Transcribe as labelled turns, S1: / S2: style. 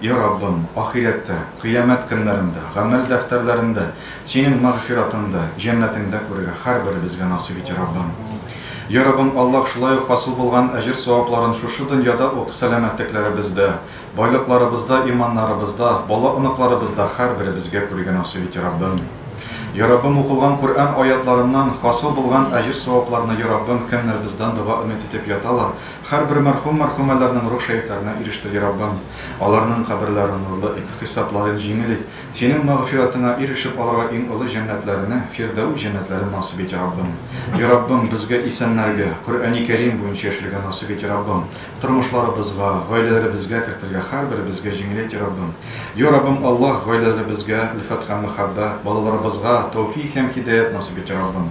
S1: И Раббым, ахирәттә, кыямәт көннәрендә, гамәл дәфтәрләрендә Синең мәгъфиратыңды, җәннәтеңдә күрергә һәрберебезгә насыйп ит, и Раббым. И Раббым, Аллаһ шулай ук хасил булган әҗер-савапларын шушы дөньяда ук сәламәтлекләребездә, байлыкларыбызда, иманнарыбызда, бала-оныкларыбызда һәрберебезгә күрергә насыйп ит, и Раббым. И Раббым, укылган Коръән аятларыннан хасил булган әҗер-савапларны, и Раббым, кемнәр бездән дога өмет итеп яталар, Һәрбер мәрхүм мәрхүмәләрнең рух шәрифләренә иреште, ди Раббым. Аларның каберләрен нурлы ит, хисапларын җиңел ит. Синең мәгъфиратыңа ирешеп, аларга иң олы җәннәтләреңне, Фирдәүс җәннәтләрен насыйп ит, Раббым. И Раббым, безгә, исәннәргә, Коръәни Кәрим буенча яшәргә насыйп ит, Раббым. Тормышларыбызга, гаиләләребезгә кертергә һәрберебезгә җиңел ит, и Раббым. Йо, Раббым Аллаһ, гаиләләребезгә, өлфәт һәм мәхәббәт, балаларыбызга, тәүфик һәм һидаять насыйп ит, и Раббым.